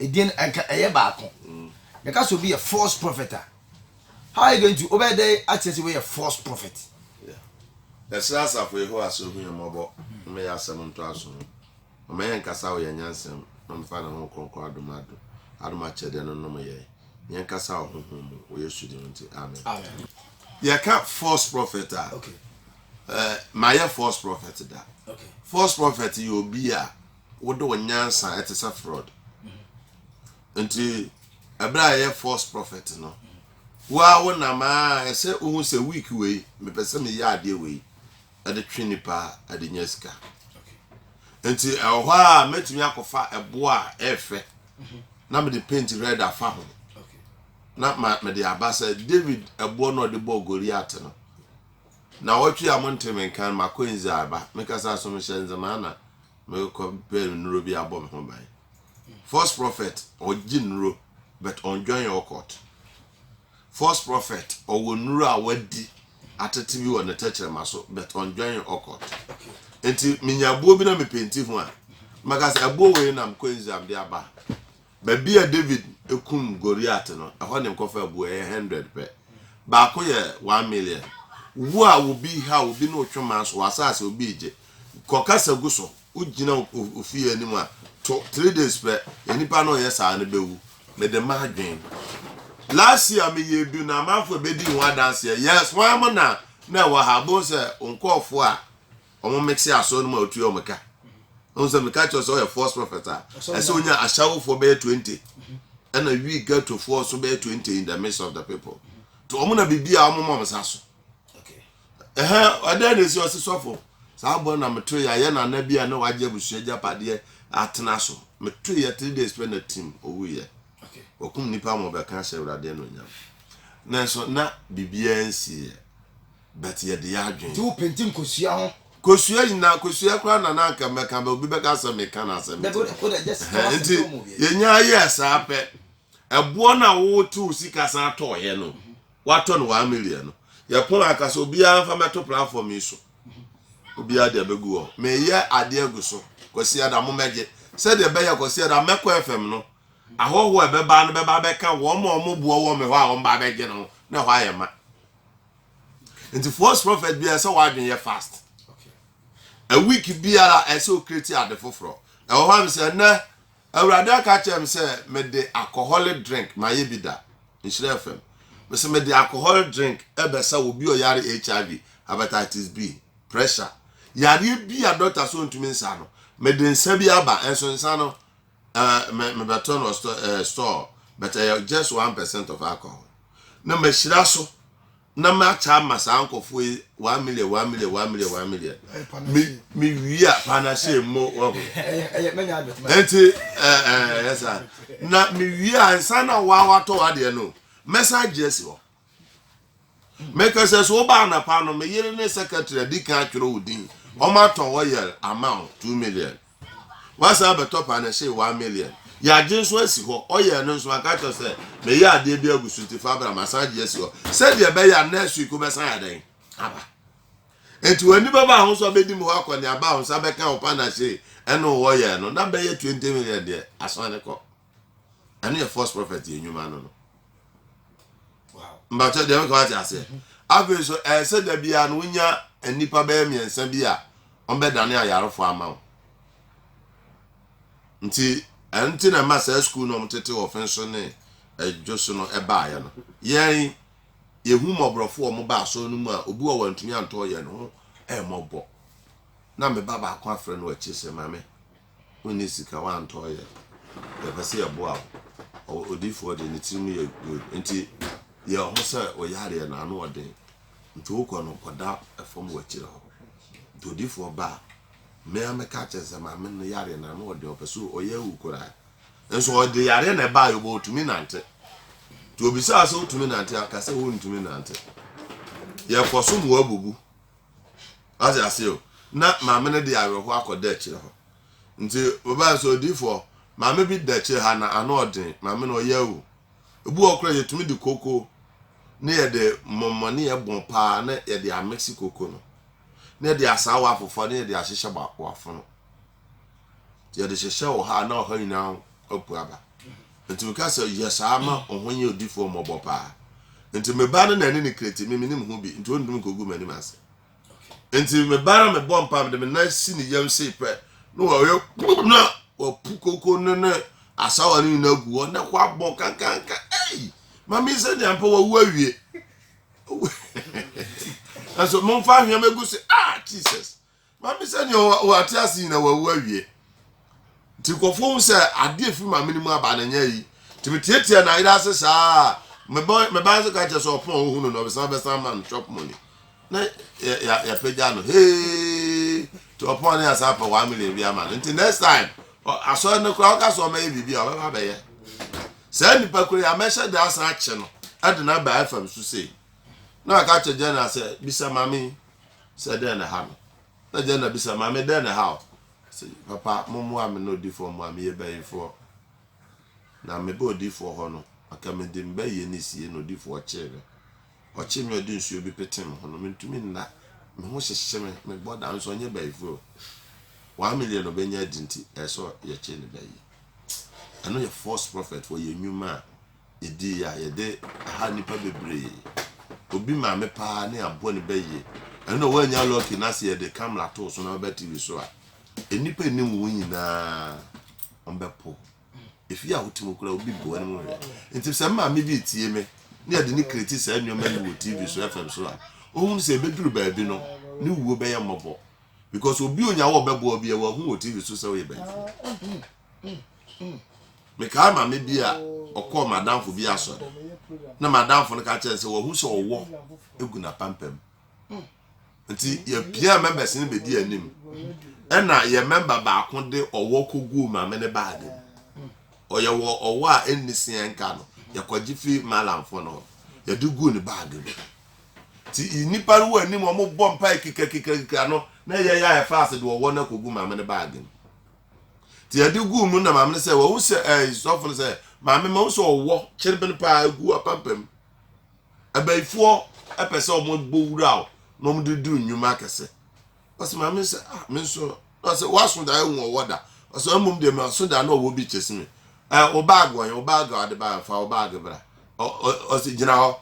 Edin nka ɛyɛ baako. Yɛka sɛ obi yɛ false prophet a, how are you going to, wobɛyɛ dɛn akyerɛ sɛ wei yɛ false prophet? Yɛsrɛ asafo Yehowa sɛ ohu yɛn mmɔbɔ mmɛyɛ asɛm ntoaso no. Ɔmma yɛn nkasa wɔ yɛn nyansam na ɔmfa ne honhom kronkron adom adom adom akyɛdeɛ no nnom yɛn. Yɛn nkasa wɔ honhom mu wɔ Yesu din mu nti, amen. Yɛka false prophet a, eh, mayɛ false prophet da. False prophet yɛ obi a Wode wo nyansa te sɛ Frɔd. Nti ɛberɛ a ɛyɛ false prophet no, wo ara wo nam a ɛsɛ wohu sɛ week wei mepɛ sɛ meyɛ adeɛ wei ɛde twe nipa ɛde nya sika. Nti ɛwɔ hɔ a mɛtumi akɔfa ɛboɔ a ɛfɛ na mede paint red afa ho na mede aba sɛ David ɛboɔ no ɔde bɔɔ Goliath no. Naawɔtwe a monntee me nka no, makɔ Nzze aba. Mekasa so mehyɛ Nzze mã na mekɔ pɛ nnuro bi abɔ me ho ban. False prophet ɔgye nnuro but ɔnnjoin occult. False prophet ɔwɔ nnuro a wadi atete bi wɔ ne tɛkyerɛma so but ɔnnjoin occult. Nti menya abuo bi na mepenti ho a, mɛka sɛ abuo wei na mekɔ Nzze a mede aba. Baabi a David kum Goliat no, ɛhɔ na nkɔfaa bu, ɛyɛ hundred pɛ. Baako yɛ one million. Wo a obi haw obi na wotwema so w'asaase, obi regye, kɔ kasa gu so, wogyina ofie anim a, to three days pɛ, nnipa no reyɛ saa no bɛwu. Mede m'adwene. Last year meyɛ du na amanfoɔ bɛdii ho adanseɛ. Yes, hwan mo na na ɛwɔ ha? Bohu sɛ wo nkɔɔfoɔ a Wɔmmɛte asɔre no mu a otua wɔn ka. Ɛhu sɛ meka kyerɛ sɛ ɔyɛ false prophet a ɛsɛ onya asawofoɔ bɛyɛ twenty ɛna wi gatofoɔ so bɛyɛ twenty in the midst of the people to wɔn na biribi a wɔn ma wɔn sa so ɛhɛn ɛdɛn na esi ɔsi sɔfo saa bɔ na meto yɛ ayɛ nana bi a na wagye abusua gyapadeɛ atena so meto yɛ three days pɛ na tim owu yɛ wɔkum nipa ma ɔbɛka hyɛ awurade ɛna onyam nanso na biribiara nsi yɛ. but yɛde yɛ adwene. Nti wo penti nkosua ho. Kosua nyinaa kosua koraa na na anka mɛka bɛ obi bɛka sɛ meka no asɛm ti ɛhɛn nti yɛnya yɛɛ saa pɛ ɛboɔ no a wote wo sika san tɔɔyɛ no watɔ no one million no yɛpɔn aka sɛ obiara mfa mɛto platform yi so obiara deɛ bɛgu hɔ meyɛ adeɛ gu so Kwasi Ada mo mɛgye sɛdeɛ ɛbɛyɛ Kwasi Ada mɛkɔ FM no ahɔhoɔ a ɛbɛba no bɛba bɛka wɔn a wɔboɔ wɔ me hɔ a wɔn ba bɛgye no ho na ɛhɔ ayɛ ma nti false prophet bi ɛsɛ wadwen yɛ fast a week biara ɛsɛ okreti ade foforɔ ɛwɔ hɔ a mesɛ nnɛ awurade aka kyerɛ me sɛ mede alcoholic drink ma yɛ bi da nhyerɛ fam mesɛ mede alcoholic drink ɛbɛsa wɔ bi ɔyare hiv hepatitis b pressure yareɛ bi a dɔkta so ntumi nsa no mede nsa bi aba ɛnso nsa no mebɛtɔ no store but ɛyɛ just one percent of alcohol Na mahyira so na makyɛ ama saa nkurɔfoɔ yi one million one million one million one million me me wie a panahye mo wɔ ho nti ɛɛ ɛɛ saa na me wie a nsa na wa watɔ adeɛ no mɛsa agye asi hɔ mɛka sɛ so woba anapa no me yere ne secretary adi kan atwerɛ wo din wɔn atɔ hɔ yɛ amount two million Wasan abɛtɔ panɛhyee one million. Yɛagye nso asi hɔ. Ɔyɛɛ no nso, waka kyerɛ sɛ, Meyɛ adeɛ bi agu so nti fa bra. Masan agye asi hɔ. Sɛdeɛ ɛbɛyɛ a next week wobɛsan ayɛ dɛn? Aba. Nti w'ani bɛba a ho nso abɛdi me hɔ akɔneaba a wo nsa bɛka wo panɛhyee ɛne wo ɔyɛɛ no. Na bɛyɛ twenty million deɛ, asan de kɔ. ɛno yɛ false prophet yɛ nnwuma no no mbatɛ deɛ meka wate aseɛ mhm. afei so ɛyɛ sɛ da biara no wonya nnipa bɛyɛ mmiɛnsa bi a wɔbɛdane ayarefo ama wo nti ɛno nti na ɛma saa sukuu no wɔtete wɔfen so ne ɛdwo so no ɛbaeɛ no yɛn yɛhu mmɔborɔfo wɔn ba asɔre no mu a obi wɔ wɔntumi antɔ yɛn ho ɛmmɔbɔ na me ba baako afrɛ no akyi sɛ maame wonni sika, woantɔ yɛ, yɛpɛ sɛ yɛboa wo. Ɔ odiyifoɔ deɛ ne tirim yɛ good nti yɛ ho sɛ wo yareɛ no ano wɔ den nti wokɔ no kɔda fam wɔ akyire hɔ nti odiyifoɔ ba a me ara mɛka akyerɛ sɛ maame no yareɛ no ano wɔ den ɔpɛ sɛ ɔyɛ awu koraa nso ɔde yareɛ na ɛbaa yɛ bɔ ɔtumi nante nti obisaa sɛ wotumi nante aka sɛ wontumi nante yɛkɔ so mu abubu Wate aseɛ o. Na maame no de awerɛhoɔ akɔ dɛkyerɛ hɔ. Nti wɔbaa sɛ odiifoɔ, maame bi dɛkyerɛ ha na ano ɔden, maame no ɔyɛ awu. Ebi wɔ koraa yɛtumi de koko ne yɛde mmɔmmɔneɛ bɔ paa na yɛde amiksi koko no. Na yɛde asaawa afofɔ na yɛde ahyehyɛ wafono. Yɛde hyehyɛ ɔhaw a na ɔhaw nyinaa ho apu aba. Nti meka sɛ yɛ saa ma wo ho nyɛ odifoɔ mmɔbɔ paa. Nti me ba no na ɛne ne kra ti, me menim ho bi, nti ɔntum nkɔgu m'anim ase. Nti me ba no mebɔ mpa mede me nan si ne yam sei pɛ na wɔyɛ kpum na wapu koko no ne asawa no nyinaa gu hɔ na kɔ abɔ kankanka ei mami sɛ deɛ mpa wawu awie nanso momfa ahwɛm agu se ah jesus Maame sɛ nea ɔte ase nyina wawu awie. Nti nkurɔfoɔ hu sɛ adeɛ firi maame no mu aba no nyɛ yi. Nti metiatia n'ayerɛ ase saa a meba ase ka kyerɛ sɛ ɔpon a ɔhu no no ɔbɛsan bɛsan ama no shop money. Na yɛapagya no hee nti ɔpon a na yɛasan apɛ one million bi ama no. Nti next time asɔre no koraa ɔka sɛ ɔmɛyɛ biribi a ɔbɛba abɛyɛ. Saa nipa koro yi a mɛhyɛ da asan akye no de no aba fam so sei. Na ɔka kyerɛ General sɛ bisa maame yi. sɛ dɛn na ɛha me? Na Jenna bisa, Maame, dɛn na ɛha wo? Ɔse, Papa, mommoa me na odifoɔ mmoa me, meyɛ bayifoɔ. Na mebaa odifoɔ hɔ no, anka mede me bayie no resie na odifoɔ kyee me. Ɔkyee me a ɔde nsuo bi petee me ho no, mentumi nna, me ho hyehye me, mebɔ dam, nanso ɔnyɛ bayifoɔ o. One million a ɔbɛnya adi nti, ɛsɛ sɛ yɛkye ne bayie. Ɛno yɛ false prophet, wɔyɛ nnwuma a yɛdi yi a yɛde ha nnipa bebree obi maame paa ne aboa ne ba yie ɛno na woanya lucky na sɛ yɛde camera too so na ɔbɛ tv so a nnipa nim wo nyinaa ɔmbɛpo efi a wote mu kura obi bu anim hwɛ nti sɛ maame bi tie me ne yɛde ne kireti saa nneɛma no wɔ tv so fm so a ohun sɛ ebeduru baabi no ne wuo bɛyɛ mmɔbɔ because obi onya wɔ bɛboa bi a wahu wɔ tv so sɛ ɔyɛ bɛyifo. mekae maame bi a ɔkɔɔ madamfo bi asɔre na madamfo no ka kyerɛ sɛ wahu sɛ ɔwɔ egu n'apampam nti yɛpia members no bɛdi anim ɛna yɛ member baako de ɔwɔ kɔguu maame ne baage mu ɔyɛ wɔ ɔwɔ a ɛnni seɛ nka no yɛkɔgye fi malamfo no yɛde guu ne baage mu nti nnipa no wɔ anim ɔmobɔ mpae kikakikakika no na yɛyɛ a ɛfa ase de ɔwɔ no akɔgu maame ne baage mu nti yɛde guu mu na maame no sɛ wɔn sɛ ɛɛ eh, sɔfo no sɛ maame ma wɔn sɛ ɔwɔ kyerebene paa egu apampam abayifoɔ ɛpɛ sɛ wɔn bɔ wura o na wɔn de du nnwuma akɛse ɔsɛ maame sɛ ah me nso na ɔsɛ wɔaso da ehu ɔwɔ da ɔsɛ wɔn mmom deɛ ma so da na ɔwɔ bi kyesi mi ɛɛ eh, ɔbaag wɔn yɛ ɔbaag a ɔde ba fa ɔbaag bra ɔ ɔ ɔsɛ gyina hɔ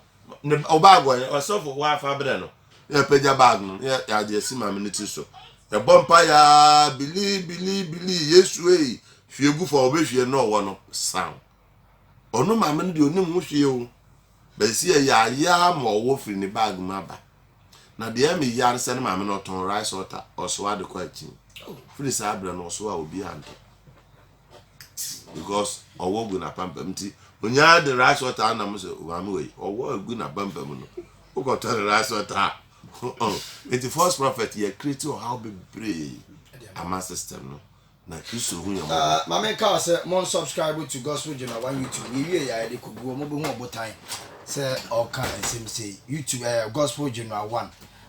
ne ɔbaag wɔn yɛ ɔsɔfo wɔafa brɛ no. Na yɛpagya bag no, na yɛde asi maame no ti so. Yɛbɔ mpa yaa, bili bili bili, Yesu ei, hwie gu fa ɔbɛhwie na ɔwɔ no san. Ɔno maame no deɛ ɔnim ho hwee o. Bɛsi yɛ yaayaa ma ɔwɔ firi ne bag mu aba. Na deɛ ɛmi yaa no sɛ ne maame no ɔtɔn rice water, ɔsoa de kɔ akyi. Firi saa berɛ no ɔsoa obi antɔ. because ɔwɔ gu n'apampam nti onyaa de rice water anam sɛ maame wei ɔwɔ gu n'apampam no wokɔtɔ ne rice water a nti false prophet yɛ create ɔhaw bebree ama system no na kristo hu yɛ mɔbɔ. Ah, maame nka sɛ mo subscribe to gospel jona one youtube yɛ wie yɛ ayɛde kogu wɔn bɛhu ɔbotan sɛ ɔka nsɛm sei youtube ɛɛ eh, gospel jona one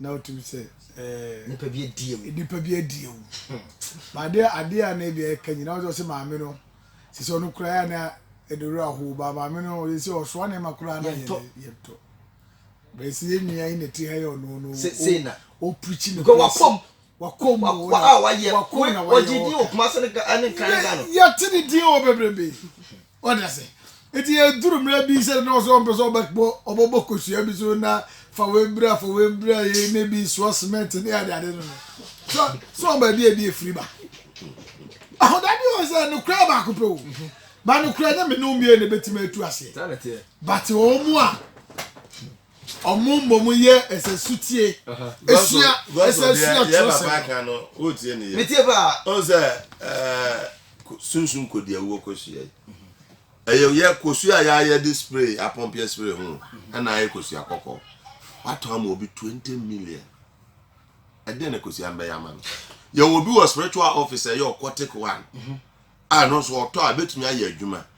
na wotumi sɛ ɛɛ nipa bi adi awu nipa bi adi awu ba adeɛ adeɛ a na ebi ɛka nyinaa ɔsɛ ɔsɛ maame no sɛ sɛ ɔno koraa na ɛde wura ho ba maame no ɔyɛ sɛ ɔsoa na ɛma koraa na yɛ yɛ ntɔ bɛsi yɛ nua yi na ti ha yɛ ɔno no sɛ na ɔpirikyi no kɔ wakɔm wakɔm mu wɔyɛ wakɔm na wɔyɛ wɔka yɛte ne din wɔ bebrebe. Wate ase? Enti eduru mmerɛ bi sɛdeɛ na ɔsɛ sɛ ɔmpɛ sɛ ɔbɛbɔ ɔbɛbɔ kosua bi so na fa wei bra fa wei bra yei ne bi soa cement ne ade ade no no so so wɔn baabi a ebi efiri ba ahodabi wɔn sɛ no kura baako pɛ o ba no kura nyɛ mene omie na ebetumi atu aseɛ bate wɔn mu a Wɔmmom yɛ ɛsɛ sotie. Esua ɛsɛ sua twerɛsɛm. Metie paa. Ɔn sɛ sunsun kodi awuo kosua yi. Ɛyɛ yɛ kosua yɛ ayɛ de spray apɔmpeɛ spray ho ɛna ayɛ kosua kɔkɔɔ. Watɔ ama obi twenty million. Ɛdɛn na kosua mbɛyɛ ama no. Yɛwɔ obi wɔ spiritual office ɛyɛ ɔkɔtik one. A no nso ɔtɔ a betumi ayɛ adwuma.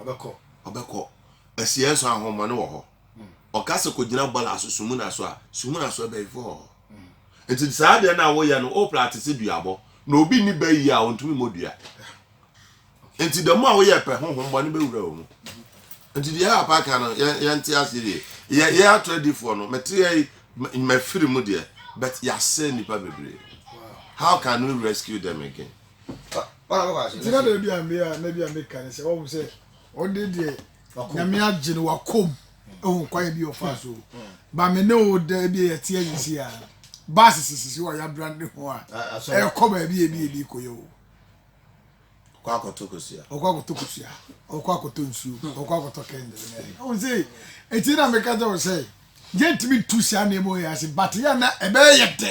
Ɔbɛkɔ. Ɔbɛkɔ. Asiɛ nso ahonhommɔne wɔ hɔ. Ɔka sɛ kɔgyina bɔla so sumuna so a, sumuna so abayifoɔ wɔ hɔ. Nti saa adeɛ no a woyɛ no, wopra te sɛ duabɔ. Na obi nni ba yie a, ɔntumi mmɔ dua. Nti da mu a woyɛ pɛ, honhommɔne bɛwura wo mu. Nti deɛ papa ka no, yɛn, yɛnte aseɛ yie. Yɛ, yɛ ato adifoɔ no, mete yɛ, mafiri mu deɛ, but yɛasɛe nnipa bebree. How can we rescue them again? nti na da bi a me a na bi a meka ne sɛ ɔhu sɛ ɔde deɛ nyame agye no wakom ɛho kwae bi ɔfa so ba me ne wo da bi a yɛteɛ yi si a baase sisisi wɔ yɛabra ne ho a ɛkɔ baabi a bi ɛbi kɔyɛ o ɔkɔ akɔtɔ kosua ɔkɔ akɔtɔ kosua ɔkɔ akɔtɔ nsuo ɔkɔ akɔtɔ kɛndɛlɛ ɔhu sɛ ɛti na meka kyɛ wo sɛ yɛntumi ntu saa nneɛma yɛ ase bate yɛ na ɛbɛyɛ dɛ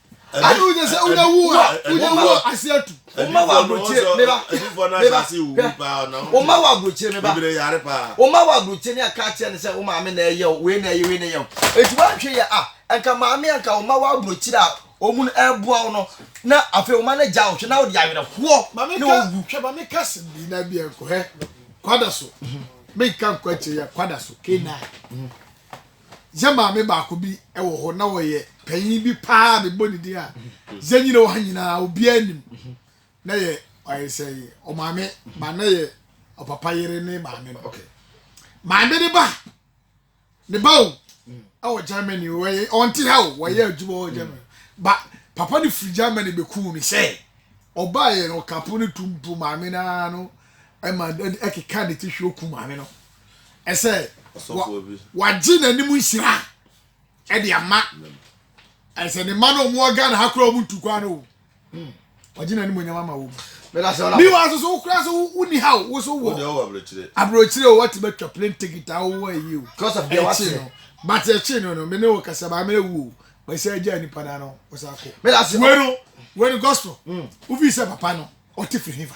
ayi wo de sɛ wo de wu a wo de wu ase atu. o ma wɔ aburokyire mi ba mi ba hwɛ o ma wɔ aburokyire mi ba o ma wɔ aburokyire ni aka kyerɛ ne sɛ o maame na ɛyɛ o wei na ɛyɛ wei na ɛyɛ o eti wa nhwɛ yɛ a nka maame a nka o ma wɔ aburokyire a wɔn ɛboa wo no na afei o ma no gya ɔhwɛ na o de awerɛhoɔ na owu. hwɛ maame kasi bi na bi ɛnkɔ hɛ kwada so mi nka nkɔ akyire yɛ kwada so k9. Yɛn maame baako bi wɔ hɔ, na ɔyɛ panyin bi paa, mebɔ ne din a, yɛn nyina wɔ ha nyinaa, obiara nim. Na yɛ ɔyɛ sɛ ɔmaame, ba na yɛ ɔpapa yere ne maame no. Maame ne ba, ne ba o, ɛwɔ Germany, ɔnte ha o, wɔyɛ adwuma wɔ Germany. Ba, papa no firi Germany bɛkuu no sɛ, ɔbaeɛ no, ɔka po no tum po maame no ara no, ɛma ɛkeka ne ti hwɛ oku maame no. ɛsɛ wagye n'anim nhyira ɛde ama ɛsɛ ne mma no wɔn wɔ ghana ha koraa wɔn ntu kwan no hmm. wagye n'anim onyama ma wɔn mi wa soso wokura so wuni ha o woso wɔ aburokyire o wati bɛ twa plane ticket a wowɔ ayi o ɛkyi no but ɛkyi no no mi ne wo kasa maa mi ne wu o wɔsɛ ɛgya nipa na no wɔsɛ akɔ wɛno wɛno gospel wofi hmm. sɛ papa no ɔte firi hifa.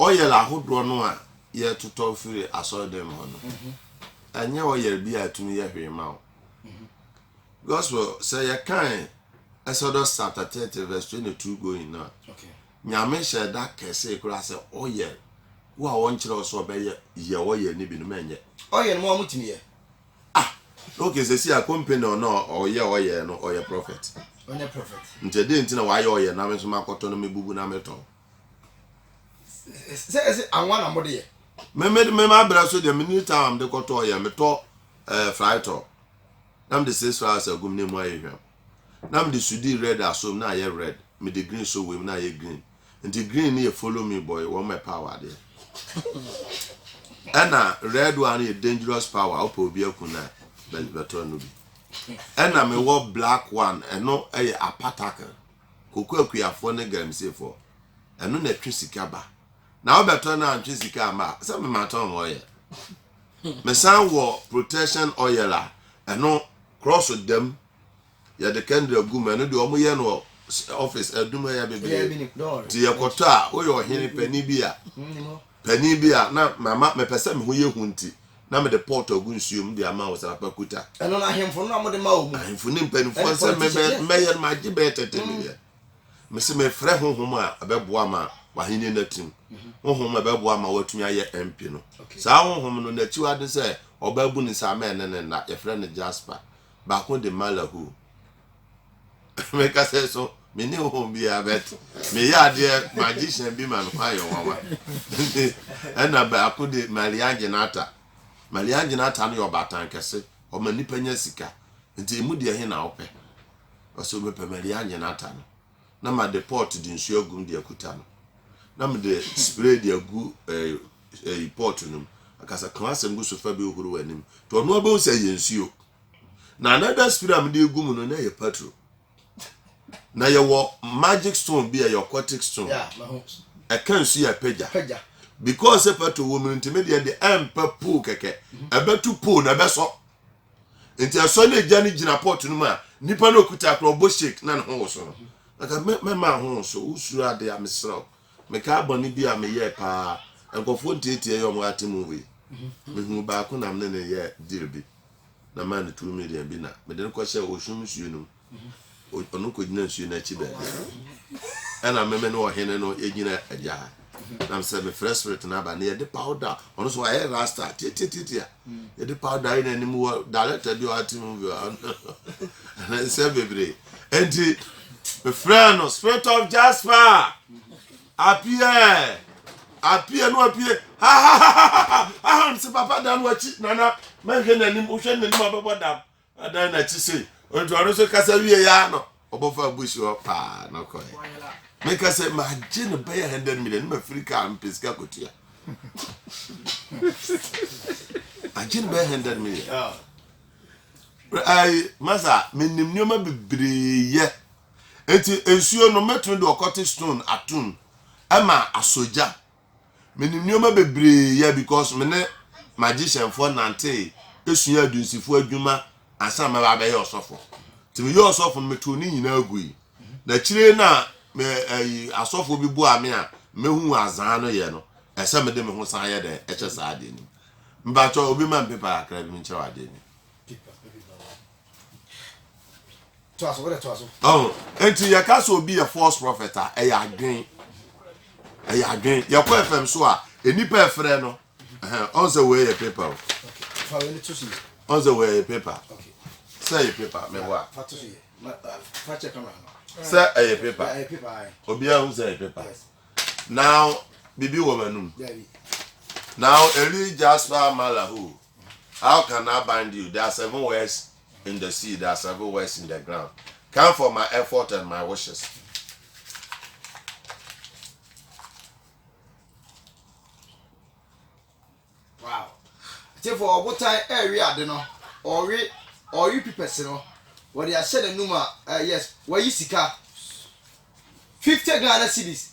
Ɔyɛr ahodoɔ no a yɛtotɔ firi asɔrdan mu hɔ no, ɛnyɛ ɔyɛr bi a ɛtumi yɛ hwee ma wo. Gospel, sɛ yɛkae Exodus chapter 30 verse 22 going no a, Nyame hyɛɛ da kɛsee koraa sɛ ɔyɛr wo a ɔnkyerɛ wo sɛ ɔbɛyɛ yɛ ɔyɛr no bi no ma ɛnyɛ. Ɔyɛr no ma wɔtumi yɛ. Ah! Okay, sɛsi a company no a ɔyɛ ɔyɛr no ɔyɛ prophet. Ɔnyɛ prophet. Nti ɛdeɛn nti na wayɛ ɔyɛr na me nso makɔtɔ na mebubu na metɔn? sɛ ɛsɛ anwa na mode yɛ. mema berɛ so deɛ mene time a mede kɔtɔ yɛ metɔ eh, fritɔ na mede six flowers agum ne mu ayɛ hwam na mede sudi red asom na ayɛ red mede green so wem na ayɛ green nti green ne yɛ follow me boy wɔn mɛ power adeɛ ɛna red one yɛ dangerous power wopɛ obi aku na bɛtɔ no bi ɛna mewɔ black one ɛno ɛyɛ apatacle kokoakuafoɔ ne galamseefoɔ, ɛno na ɛtwe sika ba. Na wobɛtɔ no antwe sika ama a, sɛ mematɔn oil. Mesan wɔ protection oil a, ɛno cross dam yɛde kɛndra gu mu ɛno deɛ wɔn yɛ no office adum ɛyɛ bebree nti yɛkɔtɔ a woyɛ ɔhene panin bi a Panin bi a na mama mepɛ sɛ me ho yɛ hu nti, na mede pɔɔtɔ gu nsuo mu de ama Ɔsrapa Kuta. Ɛno no ahemfo no a mode ma wɔn mu. Ahemfo ne mpanimfoɔ no sɛ mebɛ mɛyɛ no magye bɛyɛ tɛtɛ ne deɛ. Mese mefrɛ honhom a ɛbɛboa ma w'ahennie no atim, honhom a ɛbɛboa ma woatumi ayɛ MP no. Saa honhom no n'akyiwade ne sɛ ɔbaa bunu nsa a mɛnne ne nna, yɛfrɛ no Jasper, baako de Malahoo. meka sɛ so me ne ho biara bet meyɛ adeɛ magician bi ma me ho ayɛ nwanwa nti ɛna baako de Marian Genata Marian Genata no yɛ ɔbaatan kɛse ɔma nnipa nya sika nti ɛmu deɛ he na wopɛ ɔsɛ mepɛ Marian Genata no na made pot de nsuo agum de akuta no na mede spray de agu eh, eh, pot no mu akasa ka asɛm gu so fa bi horo w'anim nti ɔno abɛhu sɛ yɛ nsuo na another spirit a mede egu mu no na ɛyɛ patro na yɛwɔ magic stone bi a ɛyɛ occultic stone ɛka nsu yɛ pagya because sɛ patro wɔ mu no ntumi deɛ deɛ ɛmpɛ poo kɛkɛ mhm. ɛbɛtu poo na ɛbɛsɔ nti ɛsɔ ne gya no gyina pɔt no mu a nipa no okuta korɔ ɔbɔ shake na ne ho wɔ so no nka mɛma ho wɔ so wosuro ade a mesrɛ wo meka abɔne bi a meyɛɛ paa nkurɔfoɔ ntiatia yɛ ɔmo ate mu wei mhm. mehu baako nam ne ne yɛ deal bi na maa no turo Miriam bi na mede no kɔhyɛɛ ɔsum nsuo no mu. Ɔno kɔgyina nsuo no akyi baabi. Ɛna meme ne ɔhene no yɛgyina agya ha. Nam sɛ mefrɛ spirit no aba na yɛde powder ɔno nso wayɛ rasta titititi a yɛde powder ayɛ n'anim wɔ director bi a ɔate mu bi a ɛnɛ nsɛm bebree. Enti mefrɛ no spirit of Jasper. Appiah eh Appiah no apue hahahaha Ahem se papa dan wakyi nana mɛnhwɛ n'anim wohwɛ no n'anim abɛbɔ dam adan n'akyi sei nti ɔno nso kasa wie yɛ ano ɔbɔfa bush hɔ paa na ɔkɔɛ meka sɛ magye no bɛyɛ 100 million ne mafiri kaa mpɛ sika kɔtua agye no bɛyɛ 100 million ai masa menim nneɛma bebree yɛ Enti nsuo no mɛtumi de ɔkɔte stone atom ɛma asɔ gya. Menim nneɛma bebree yɛ because me ne magicianfoɔ nantee esua adunsifoɔ adwuma ansa na mɛba abɛyɛ ɔsɔfo. Nti meyɛ ɔsɔfo no metoo ne nyinaa gui. Na akyire na me ɛyi asɔfo bi boa me a mehu azaa no yɛ no ɛsɛ mede me ho san yɛ dɛ ɛhyɛ saa adeɛ no mu. Mpakyɛ obi ma me paper kakra bi menkyerɛ wɔ adeɛ bi. Oh, nti yɛka sɛ obi yɛ false prophet a ɛyɛ adwen ɛyɛ adwen yɛkɔ fm so a nnipa ɛfrɛ no ɔn sɛ wei yɛ paper o ɔn sɛ wei yɛ paper sɛ yɛ paper mɛboa sɛ ɛyɛ paper obiara hu sɛ yɛ paper now bibi wɔ m'anum now eli jasper malahu How can I bind you? There are seven words in the sea, there are seven words in the ground. Come for my effort and my wishes. Wow. Te for ɔbotan ɛrewe ade no, ɔwe ɔwe pipɛsi no, wɔde ahyɛ n'anum a, uh, yes, wɔyi sika. Fifty Ghana cedis.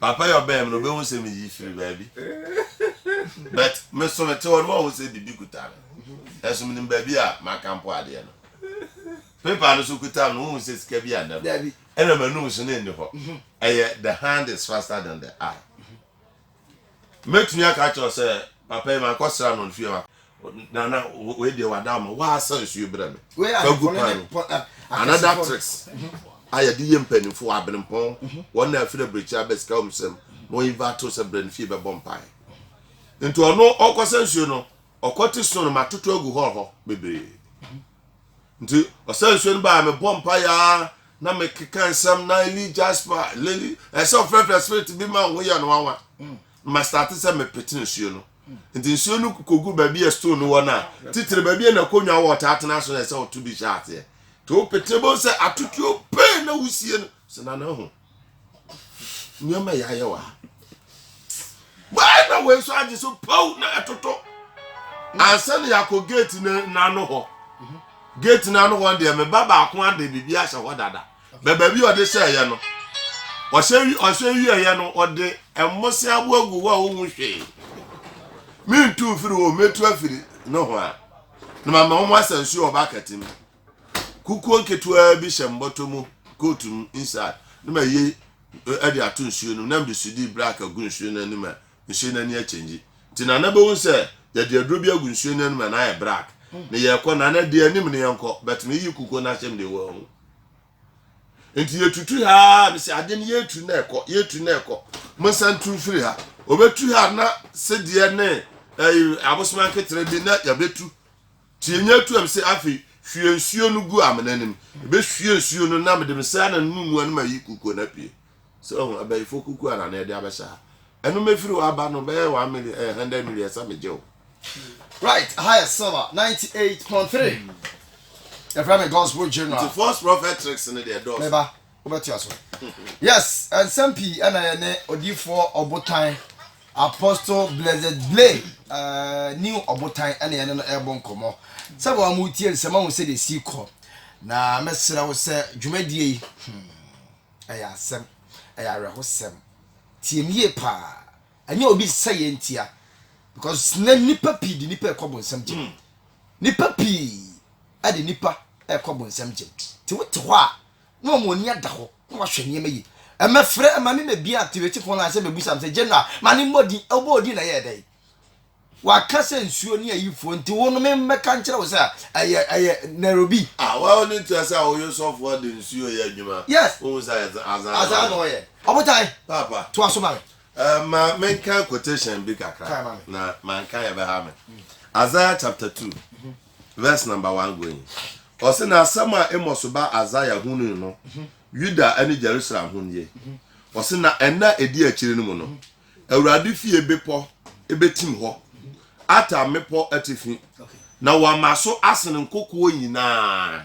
Papa yi ɔbɛn me no ɔbɛhu sɛ meyi firi baabi but me so mete hɔ no wahu sɛ biribi kuta me nanso menim baabi a maka mpo adeɛ no paper no so kuta me no wohu sɛ sika bi annɛ no ɛna m'anum so no nni hɔ ɛyɛ the hand is faster than the eye Mɛtumi aka akyerɛ wo sɛ, Papa yi, mankɔsra no fie hɔ. Nana, wei deɛ wada ama. Woasa nsuo brɛ me. Fa gu pan mu. Another tricks a yɛde yɛ mpanimfoɔ wɔ Abenempɔn, wɔn na afiri abirekyiri aba sika wɔn nsam na wɔn invite wo sɛ brɛ ne fie bɛbɔ mpaeɛ. Nti ɔno ɔkɔsa nsuo no, ɔkɔte snow no matoto agu hɔ hɔ bebree. Nti ɔsaa nsuo no baa mebɔɔ mpaeɛ ara na mekeka nsɛm na Eli Jasper Leli ɛyɛ sɛ ɔfrɛfrɛ spirit bi ma ho yɛ no nwanwa hmm. na mastate sɛ mepete nsuo no hmm. nti nsuo no kogu baabi a stone no wɔ no a ah, titire baabi a nakonnwa wɔ ɔtaa tena so na ɛsɛ ɔto bi hyɛ aseɛ nti wopete bɛhu sɛ atotuo pee na wosie no sɛ nana ho nneɛma yɛ ayɛ wɔ ha bɛɛ na wei nso agye so pow na ɛtoto ansa na yɛakɔ gate n'ano hɔ gate n'ano hɔ deɛ me ba baako ade biribi ahyɛ hɔ dada bɛ baabi a ɔde hyɛɛyɛ no ɔhyɛ ɔhyɛ wieɛyɛ no ɔde mmose abo agu hɔ a ɔhu hwee mentu mfiri hɔ mɛtu afiri no ho a na mama wɔn asɛ nsuo ɔba akati mu kukuo nketewaa bi hyɛ mbɔtɔ mu coat mu inside na ma yie ɛde ato nsuo no na mede sudi black agu nsuo no anim a nsuo no ani akyɛngye nti na na bɛhu sɛ yɛde aduro bi agu nsuo no anim a na ayɛ black mm. na yɛkɔ na na deɛ anim no yɛnkɔ but meyi kukuo no ahyɛm deɛ wɔahu nti yɛtutu ha mesɛ ade no yɛtu na ɛkɔ yɛtu na ɛkɔ monsa ntu mfiri ha ɔbɛtu ha na sedeɛ ne eh, abosoma nketere bi na yɛbɛtu Tie nea ɛto am se, Afei hwie nsuo no gu amena no mu. Mebɛhwie nsuo no na mede me sranan no mu mua no mayi kukuo no apue. Sɛ wahu, abayifoɔ kukuo ara na ɛde abɛhyɛ ha. Ɛno mɛfiri hɔ aba no, bɛyɛ one million, ɛyɛ hundred million sɛ megye wo. Right, ɛha yɛ silver ninety eight point three. Yɛfrɛ me Gospel General. Nti false prophet tricks no deɛ ɛdɔɔso. Meba. Wobɛtoa so. Yes, nsɛm pii ɛna yɛ ne odiifoɔ ɔbotan Apostle Blessed Blay uh, eh, new ɔbotan ɛna yɛ ne no ɛbɔ nkɔmmɔ. Sɛ wɔn a wɔretie nsɛm ahu sɛ deɛ ɛsi kɔ. Na mɛsrɛ wo sɛ dwumadie yi hmm, ɛyɛ asɛm, ɛyɛ awerɛhosɛm. Tie mu yie paa. Ɛnyɛ obi sɛ yɛ ntia. Because na nipa pii de nipa ɛkɔ bonsam gyem. Hmm. Nipa pii ɛde nipa ɛkɔ bonsam gyem. Ti wote hɔ a na wɔn ani ada hɔ na wɔahwɛ nneɛma yie. Ɛmɛfrɛ ma me mɛbia activate phone line sɛ mɛbusam sɛ general ma ne mmɔ din ɔbɔ odin na ɛyɛ dɛn waka sɛ nsuo ne ayifoɔ nti wo no memmɛka nkyerɛ wo sɛ ɛyɛ ɛyɛ Nairobi. Ah, wɔn ne tia sɛ wɔyɛ sɔfoɔ de nsuo yɛ adwuma. Yes. Wohu sɛ azan azan na ɔyɛ. Ɔbotan. Papa. To aso ma me. Uh, ma menka quotation bi kakra. Kae ma me. Na manka yɛbɛha me. Mm. Isaiah chapter two. Mm -hmm. Verse number one going. Ɔse na asɛm a Amos ba Isaiah hunui no, Yuda ne Jerusalem ho nie. Ɔse na ɛna ɛdi akyiri no mu no, Awurade fie bepɔ ɛbɛtim hɔ, ata mmepɔ atifi, na wama so asene nkokoɔ nyinaa.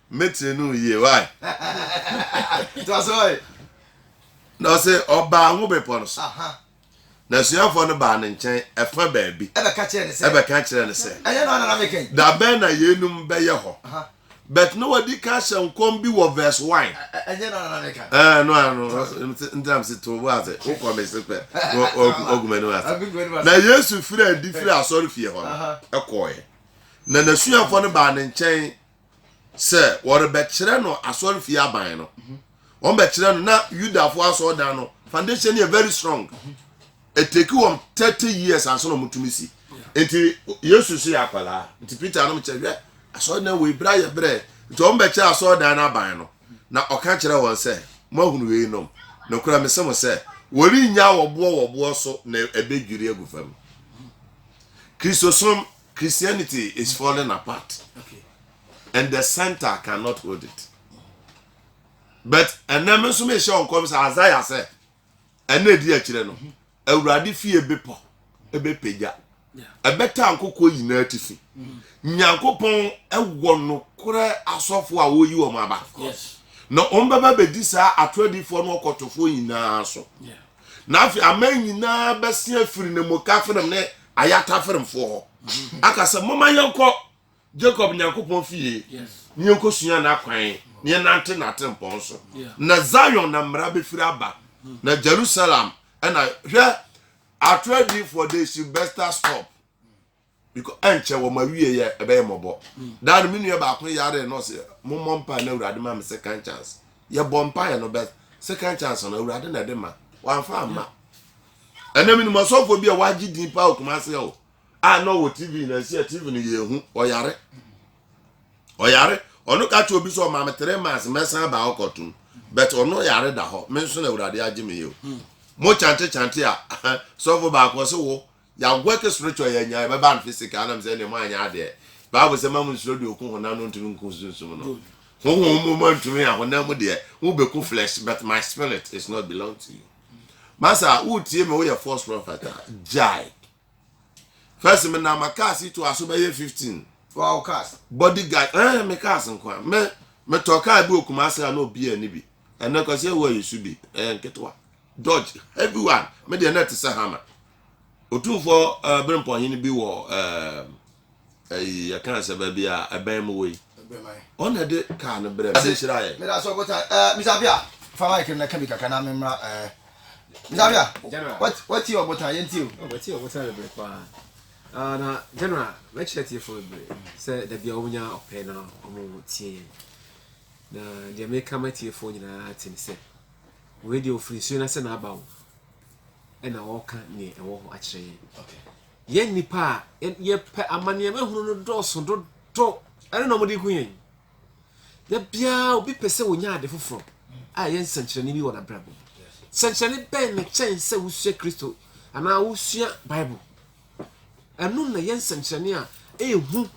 Me tiri no yie wae. Toa so wae. Na ɔse ɔbaa ngo bepɔ no so. Aha. Na asuafoɔ no baa ne nkyɛn ɛfa baabi. Ɛbɛka kyerɛ ne sɛ. Ɛbɛka kyerɛ ne sɛ. Ɛnyɛ no ara na na meka yi. Da bɛn na yeinom bɛyɛ hɔ? Aha. But na wadi kan ahyɛ nkɔm bi wɔ verse one. Ɛ- Ɛnyɛ no ara na na meka. Ɛɛ no ano Toa so. ntina me se to wo ase wo kɔ me se pɛ wo wo- ogu m'anim ase. Agu m'anim ase. Na Yesu firii adi firii asɔrefie hɔ no Aha. kɔeɛ, na n'asuafoɔ no baa ne nkyɛn sɛ wɔrebɛkyerɛ no asɔrefie aban no wɔn bɛkyerɛ no na yudafo asɔrdan no foundation yɛ very strong ɛteki wɔn thirty years ansa na wɔtumi si nti yesu so yɛ akwadaa nti peter anam kyerɛ hwɛ asɔrdan wɔ ebira yɛ brɛ nti wɔn bɛkyerɛ asɔrdan no aban no na ɔka kyerɛ wɔn sɛ mo ahunu wei nom na okura mi sɛ mo sɛ wɔrenya wɔboɔ wɔboɔ so na ɛbɛdwiri agu fam kristosom Christianity is falling apart and the center cannot hold it but ɛnɛ me nso mehyɛ wɔn kɔm sɛ Isaiah sɛ ɛna ɛdi akyire no mhm. awurade fie bepɔ ɛbɛpagya ɛbɛta nkokoɔ nyinaa atifi mhm. nyankopɔn ɛwɔ nokorɛ asɔfoɔ a wɔyi wɔn aba na wɔn bɛba bɛdi saa atoradifoɔ no ɔkɔtofoɔ nyinaa so na afei aman nyinaa bɛse afiri ne mu kafrem ne ayɛ ataferemfoɔ hɔ aka sɛ moma yɛnkɔ jacob nyankopɔn fie ne yɛnkɔsua n'akwan ne yɛnante n'atempɔn so na zion na mmara bɛfiri aba na jerusalem ɛna hwɛ ato adiifoɔ they should better stop because ɛnkyɛ wɔn awie yɛ ɛbɛyɛ mmɔbɔ daa no me nua baako yare na ɔsɛ mommɔ mpae na awurade ma me second chance yɛbɔ mpaeɛ no bɛ second chance no awurade na ɛde ma wamfa amma Ɛnɛ menim ɔsɔfoɔ bi a wagye din paa wɔ Kumase hɔ a na ɔwɔ TV na ɛsi a TV no yɛ ehu ɔyare ɔyare ɔno ka kyerɛ obi sɛ ɔma me three months mɛsan ba hɔ kɔtom but ɔno yare da hɔ me nso na awurade agye me yɛ o hmm. mo kyante kyante a sɔfo baako ɔse wo yɛawɔke spiritual yɛanya ɛbɛba no physical nam sɛ ne mo anyɛ adeɛ bible sɛ ma mo nsuro deɛ ɔku honam no ntumi nku sunsum no honhom mu ma ntumi a honam mu deɛ wobɛku flesh but my spirit is not belong to you Masa wotie me woyɛ false prophet a gyae. First me na ma cars yi to aso bɛyɛ 15. Wow cars. Body guard eh me cars nko a. Me me tɔ car bi okuma ase a na obi ani bi. Ɛnɛ kwasi ewu ayi su bi. Eh nketewa. Dodge heavy one. Me de na te sɛ hammer. Otumfo uh, eh, Brempɔhene bi wɔ uh, Ɛyi yɛ kaa sɛ baabi a ɛbɛn mo wɔ yi. Ɔn na ɛde kaa no brɛ me nhyira yɛ. Meda so botan ɛɛ Mr Apia fa mic no na ka bi kakra na me mmra ɛɛ Mr Apia General wa tie ɔbotan yɛn tie o. Oh ma tie ɔbotan bebree paa ah na General mɛ kyerɛ tie fo bebree sɛ dabi a wɔn nya ɔpɛ na wɔn tie yɛn na deɛ mɛ ka ma tie fo nyinaa te ne sɛ wɔn deɛ ofiri nsuo na sɛ na aba o ɛna ɔka neɛ ɛwɔ hɔ akyerɛ yɛn. Okay. Yɛn nnipa a yɛpɛ amanneɛma hunu no dɔɔso dodo. Ɛno na wɔde hu yɛn. Da biara obi pɛ sɛ ɔnya ade foforɔ a ɛyɛ nsɛnkyerɛnne bi wɔ n'abrabɔ mu. Sɛnkyerɛnne bɛn na kyɛn sɛ wosua Kristo anaa wosua Bible? Ɛno na ɛyɛ nsɛnkyerɛnne a ɛyɛ hu.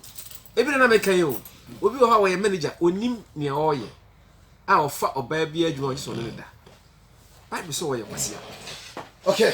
Ebi na na meka yi o. Obi wɔ hɔ a ɔyɛ manager, ɔnim nea ɔreyɛ a ɔfa ɔbaa bi adwuma ɔgye sɛ ɔne no da. Bible sɛ ɔyɛ kwasea. Okay,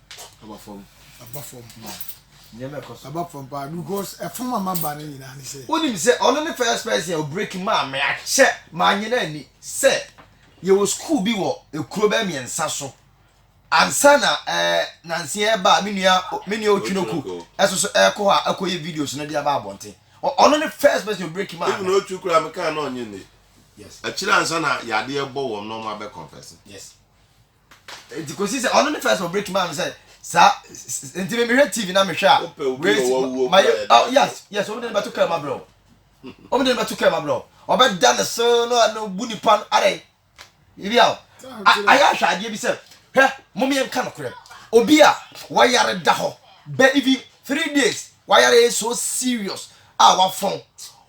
Aba fam. Aba fam paa. Nneɛma ɛkɔ so. Aba fam paa because ɛfam ama ba no nyinaa ne sɛ. Wonim sɛ ɔno ne first person a ɔbreki maa me akyɛ maa nyɛ no ani sɛ yɛwɔ sukuu bi wɔ ekuro bɛyɛ mmiɛnsa so ansa na ɛɛ eh, nansi ɛreba a me nua me nua Otwinoko ɛso so ɛrekɔ hɔ a ɛkɔyɛ videos no de aba abɔnten. Ɔno ne first person ɔbreki maa me. Even Otwi koraa me kaa na ɔnye nne. Yes. Akyire ansa na yadeɛ bɔ wɔn na wɔn abɛ confess. Yes. nti kosi sɛ ɔno ne first wɔ break man sɛ saa nti mi mehwɛ tv na mehwɛ a wei ma yɛ oh yes yes wɔn de ne bɛto kɛm abrɛ o wɔn de ne bɛto kɛm abrɛ o ɔbɛ da ne so na ɔno bu nipa no ara yi ebi a ayɛ ahwɛ adeɛ bi sɛ hwɛ mo mi nka no korɛ obi a wɔyare da hɔ bɛ even three days wɔyare yɛ so serious a wafɔn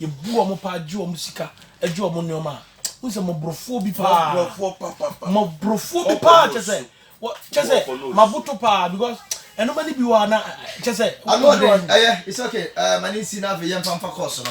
Yɛbu wɔn paa gye wɔn sika gye wɔn nneɛma a wohu sɛ mmɔborɔfoɔ bi paa mmɔborɔfoɔ bi paa kyɛ sɛ kyɛ sɛ maboto paa because ɛnoma no bi wɔ a na kyɛ sɛ ɛyɛ it's okay eh, ma ne nsi na afei yɛmfa mfa kɔɔ so no